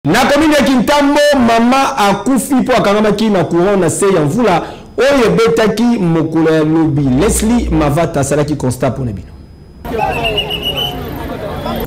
Na komini ya Kintambo, mama akufi mpo akangamaki na courant na se ya mvula oyo ebetaki mokolo ya lobi. Leslie Mavata asalaki constat mpo na bino.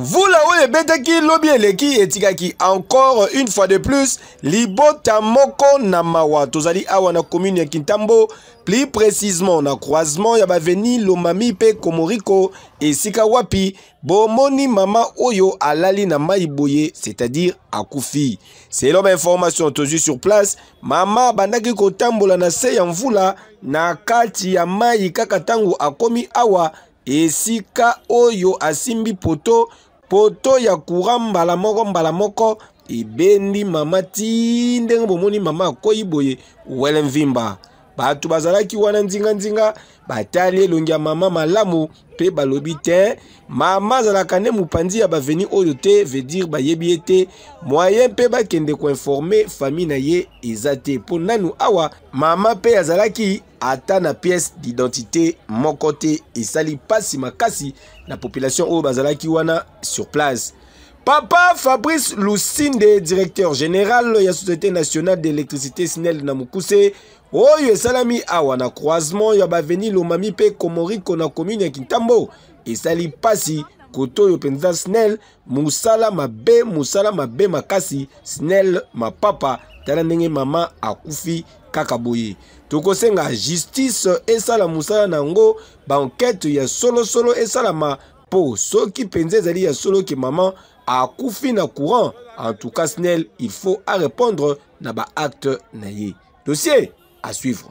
Mvula oyo ebetaki lobi eleki etikaki encore une fois de plus libota moko na mawa. Tozali awa na commune ya Kintambo, plus précisément na croisement ya baveni Lomami mpe Komoriko, esika wapi bomoni mama oyo alali na mai boye c'est-à-dire akufi selon bainformation tozwi sur place mama abandaki kotambola na se ya mvula na kati ya mai kaka ntango akomi awa esika oyo asimbi poto poto ya courant mbala moko mbala moko ebendi mama ti ndenge bomoni mama akwei boye wele mvimba bato bazalaki wana nzinganzinga batali elongi ya mama malamu mpe balobi te mama azalaka nde mopanzi ya baveni oyo te vedire bayebi ye te moyen mpe bakende koinforme famille na ye eza te mpo nanu awa mama mpe azalaki ata na pièce d'identité moko te esali mpasi makasi na population oyo bazalaki wana sur place Papa Fabrice Lusinde, directeur général ya Société nationale d'électricité SNEL na mokuse oyo esalami awa na croisement ya baveni Lomami mpe Komoriko na commune ya Kintambo esali pasi koto oyo mpenza SNEL mosala mabe mosala mabe makasi SNEL mapapa tala ndenge mama akufi kaka boye tokosenga justice esala mosala na yango bankete ya solosolo esalama Po soki penza ezali ya solo ke maman akufi na courant, en tout cas Snel, il faut à répondre na ba acte na ye. Dossier à suivre.